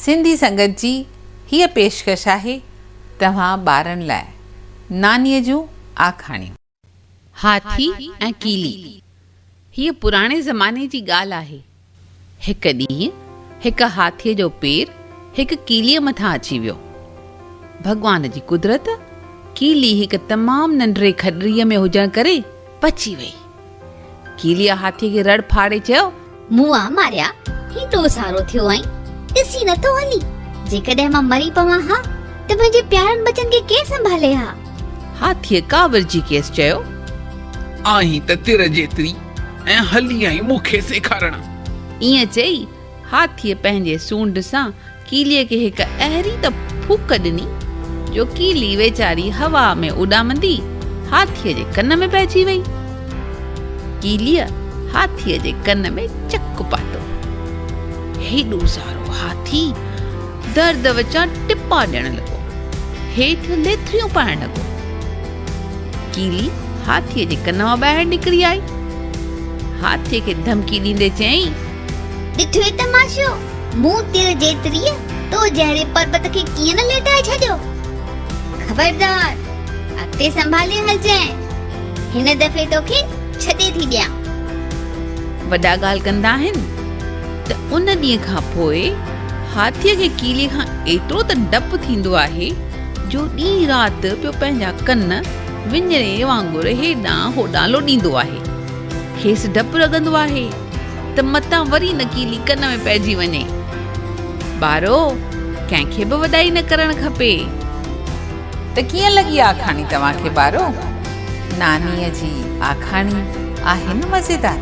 سنڌي سنگت جي هيء پيشڪش آهي توهان ٻارن لاء نانيء جون آکاڻيون. هاٿي ۽ ڪيلي، هيء پراڻي زماني جي ڳالهه آهي. هڪ ڏينهن هڪ هاٿيء جو پير هڪ ڪيليء مٿان اچي ويو. ڀڳوان جي قدرت، ڪيلي هڪ تمام ننڍڙي کڏڙيء ۾ هجڻ ڪري بچي ويئي. ڪيليء هاٿيء کي رڙ ڦاڙي چيو. موئا ماريا، هيڏو سارو ٿيو آهين، ڏسي نٿو هلين، جيڪڏهن مان مري پوان ها ته منهنجي پيارن ٻچن کي ڪير سنڀالي ها؟ هاٿيء ڪاوڙجي کيس چيو. آهين ته تر جيتري ۽ هلي آئين مون کي سيکارڻ. ائين چئي هاٿيء پنهنجي سونڍ سان ڪيليء کي هڪ اهڙي ته ڦوڪ ڏني، جو ڪيلي ويچاري هوا ۾ اڏامندي هاٿيء جي ڪن ۾ پئجي وئي. ڪيليء هاٿيء جي ڪن ۾ چڪ پاتو. هيڏو سارو هاٿي درد وچان ٽپا ڏيڻ لڳو. هيٺ ليٿڙيون پائڻ لڳو. ڪيلي هاٿيء جي ڪن مان ٻاهر نڪري آئي. هاٿيء کي ڌمڪي ڏيندي چيائين. ڏٺوئي تماشو، مون تر جيتريء تو جهڙي پربت کي ڪيئن نه ليٽائي ڇڏيو. خبردار! اڳتي سنڀالي هلجانء. هن دفعي توکي ڇڏي ٿي ڏيان. وڏا ڳالهه ڪندا آهن ته ان ڏينهن کان پوء هاٿيء کي ڪيلي کان ايترو ته ڊپ ٿيندو آهي جو ڏينهن رات پيو پنهنجا ڪن وڃڻي وانگر هيڏانهن هوڏانهن لوڏيندو آهي. کيس ڊپ لڳندو آهي. ته متان وري نڪيلي ڪن ۾ پئجي وڃي. ٻارو، ڪنهن کي به وڏائي نه ڪرڻ کپي. ته ڪيئن لڳي آکاڻي توهان کي ٻارو؟ نانيء جي آکاڻي آهي نه مزيدار.